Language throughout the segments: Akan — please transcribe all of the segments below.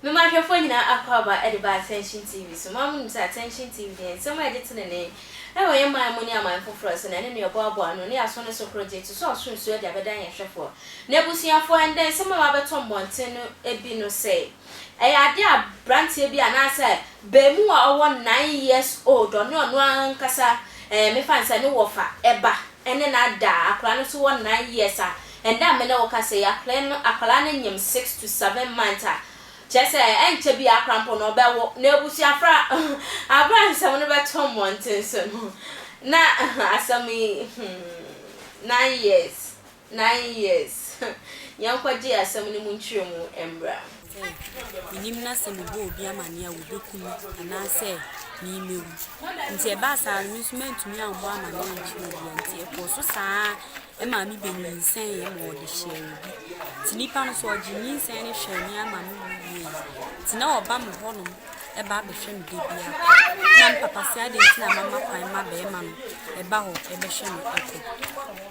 No ma ahwɛfoɔ nyinaa akwaaba de baa Attention TV so. Mo ara monim sɛ Attention TV deɛ nsɛm a ɛde tenenee wɔ yɛn man mu ne aman foforɔ so na ɛne nea ɔboaboa ano ne yɛaso no so korɔgye to so ɔsoro nsuo de abɛdan yɛn hwɛfoɔ. N'abusuafoɔ, ɛndɛ nsɛm a wɔabɛtɔ mmɔnten no bi no sɛe. Ɛyɛ adeɛ a branteɛ bi anaasɛ bɛɛmu a ɔwɔ nine years old ɔne ɔno ankasa ɛɛ me fa no sɛ ne wɔfa ɛba ɛne no ada a akwadaa no nso wɔ nine years a ɛnɛ a me ne wo kasa yi akwadaa no akwadaa no nyim six to seven months a kyerɛ sɛ ɛnkyɛ bi a akwadaa mpo no ɔbɛwo na abusua fra abere a nsɛm no bɛtɔ mmɔnten so no na asɛm yi hmm nine years. Nine years. Yɛnkɔgye asɛm no mu nkyerɛmu mmra. Sɛ menim na sɛ mebɔ obi amanneɛ a wɔbɛku me anaasɛ me mɛwu. Nti ɛbaa saa no me nso mantumi ammɔ amanneɛ ankyerɛ obiara nti ɛkɔɔ so saa ara maa me bɛnyinsɛneeɛ ma wɔde hyɛɛ obi. Nti nipa no nso ɔgyee nyinsɛn no hwɛɛ me ara ma me woo wieeɛ. Nti na ɔba me hɔnom ba bɛhwɛ me da biara kɔ. Na me papa se adɛn nti na mama kwan ma barima no ba hɔ bɛhwɛ me kɔ.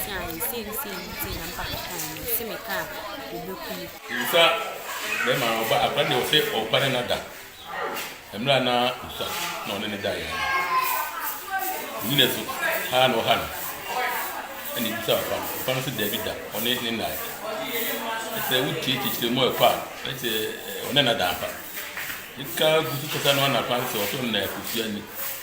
teaa yɛ sei ne sei nti na me papa kae no se me ka a ɔbɛku me. Nsa bɛrima no ɔba akora deɛ ɔsɛ ɔba ne nada mmerɛ a na nsa na ɔne ne daeɛ no ɔnyina so haa na ɔha no ɛna ebisa ɔba no ɔba no sɛ daabi da ɔne ne nae ɛsɛ wotie kyekyerɛ mu ɛkɔ a ɛsɛ ɔne nada ampa ɛka gu so kasa no anapa sɛ ɔsɔ nna akosua ni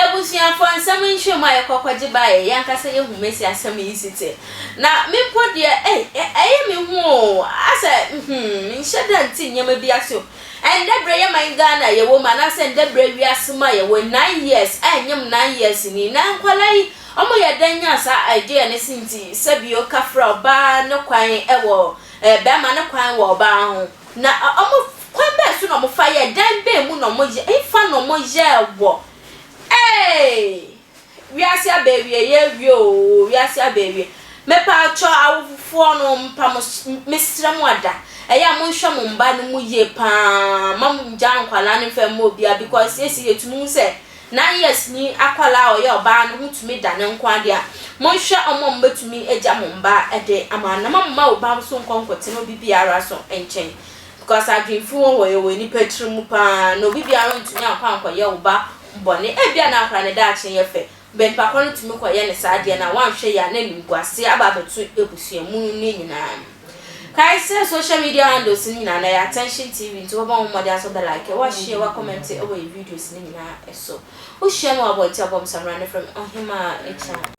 Ebusuafo, nsɛm nhyiam a yɛkɔ kɔgye ba yɛ, yɛn ankasa yehu Mesia asɛm yi si te. Na me mpo deɛ, ei, ɛ, ɛyɛ me hu o, asɛ, hmm, menhyɛ da nte nneɛma bi ase o. Ɛnnɛ berɛ yɛ man Ghana a yɛwɔ mu, anaasɛ ɛnnɛ berɛ wiase mu a yɛwɔ yi, nine years ɛnnyem nine years ni, na nkwadaa yi, wɔyɛ dɛn nya saa idea no si nti sɛ bio kafra ɔbaa no kwan wɔ, ɛɛ, barima no kwan wɔ ɔbaa ho. Na ɔmo kwan bɛn so na wɔfa yɛɛ, dan bɛn mu na wɔyɛ, hefa na wɔyɛɛ wɔ? Eeii! Wiase aba awieɛ awie oo, wiase aba awie. Mepaakyɔ awofofoɔ no mpa mo so, mesrɛ mo ada, ɛyɛ a monhwɛ mo mma no mu yie paa, mma mo ngyaa nkwadaa no mfa mma obiara because seisei yɛtumi hu sɛ, Nine years ni akwadaa a ɔyɛ ɔbaa no ho tumi da ne nko ade a, monhwɛ wɔn a wɔbɛtumi agya mo mma de ama no na moamma wo ba so nkɔ nkɔtena obi biara so nkyɛn because adwene fi wɔ hɔ yɛ wɔ nnipa tiri mu pa ara na obi biara ntumi ankɔ ankɔyɛ wo ba bɔne ebia na akwadaa no daakye yɛ fɛ bɛ nipa korɔ no tumi kɔyɛ no saa adeɛ no a woanhwɛ yie a na animguaseɛ aba abɛto abusua mu no nyinaa mu. Kae sɛ social media handles no nyinaa no ɛyɛ Attention TV nti wobɛbɔ ho mmɔden asɔ the like, wa share, wa comment wɔ yɛn videos no nyinaa so. Wo hyia me wɔ abɔnten a bɔm samina no frɛ me Ɔhemaa Akya.